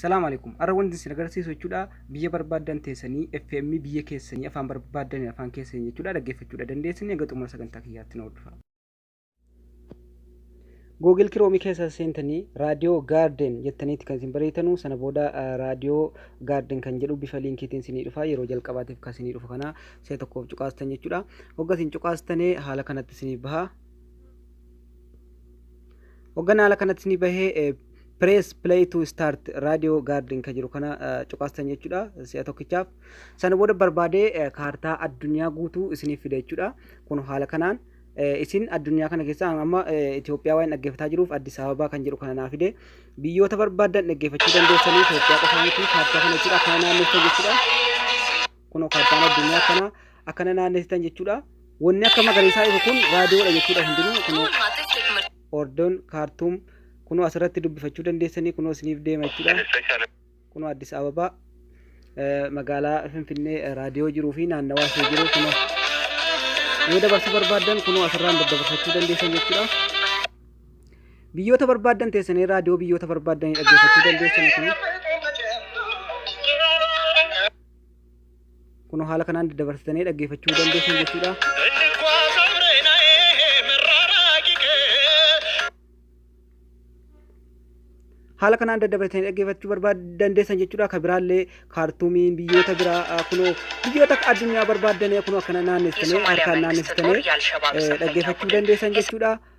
Salaam alaikum. Arra wanti isin agarsiisu jechuudha biyya barbaaddan teessanii FM biyya keessanii afaan barbaaddan afaan keessanii jechuudha dhaggeeffachuudha dandeessanii hanga xumura sagantaa kiyyaatti na hordofaa. Google Chrome keessa seentanii raadiyoo gaarden jettaniitti kan isin bareetanuu sana booda raadiyoo gaarden kan jedhu bifa liinkiitiin isinii dhufa yeroo jalqabaatiif kan isinii dhufu kana si'a tokkoof cuqaastan jechuudha. Hogga isin cuqaastanee haala kanatti isiniif baha. Hogganaa haala kanatti ni bahee press play to start radio garden kan jiru kana cuqaastan jechuudha si'a tokkichaaf. Sana booda barbaadee kaartaa addunyaa guutuu isiniif fida jechuudha. Kun haala kanaan isin addunyaa kana keessa amma Itoophiyaa waan dhaggeeffataa jiruuf Addis Ababaa kan jedhu kana naa fide. Biyyoota barbaadan dhaggeeffachuu dandeessanii Itoophiyaa qofaa miti kaartaa kana jechuudha kana naanneessan jechuudha. Kunoo kaartaan addunyaa akkanaa akkana naannessitan jechuudha. Wanni akka magariisaa ifu kun raadiyoodha jechuudha hundinuu kunoo Ordoon kaartuum kunoo asirratti dubbifachuu dandeessanii kunoo isiniif deema jechuudha. Kunoo Addis Ababaa eh, magaalaa Finfinnee eh, raadiyoo jiruu fi naannawaa ishee jiru kunoo yoo dabarsuu barbaaddan kunoo asirraan daddabarfachuu dandeessan jechuudha. Biyyoota barbaaddan teessanii raadiyoo biyyoota barbaaddan dhaggeeffachuu dandeessan kunoo. Kun haala kanaan daddabarsitanii dhaggeeffachuu dandeessu jechuudha. haala kanaan daddabarsitanii dhaggeeffachuu barbaadan deessan jechuudha. Akka biraallee kaartuumiin biyyoota biraa kunoo biyyoota addunyaa barbaaddanee kunoo akkana naannessitanii harkaan naannessitanii dhaggeeffachuu dandeessan jechuudha.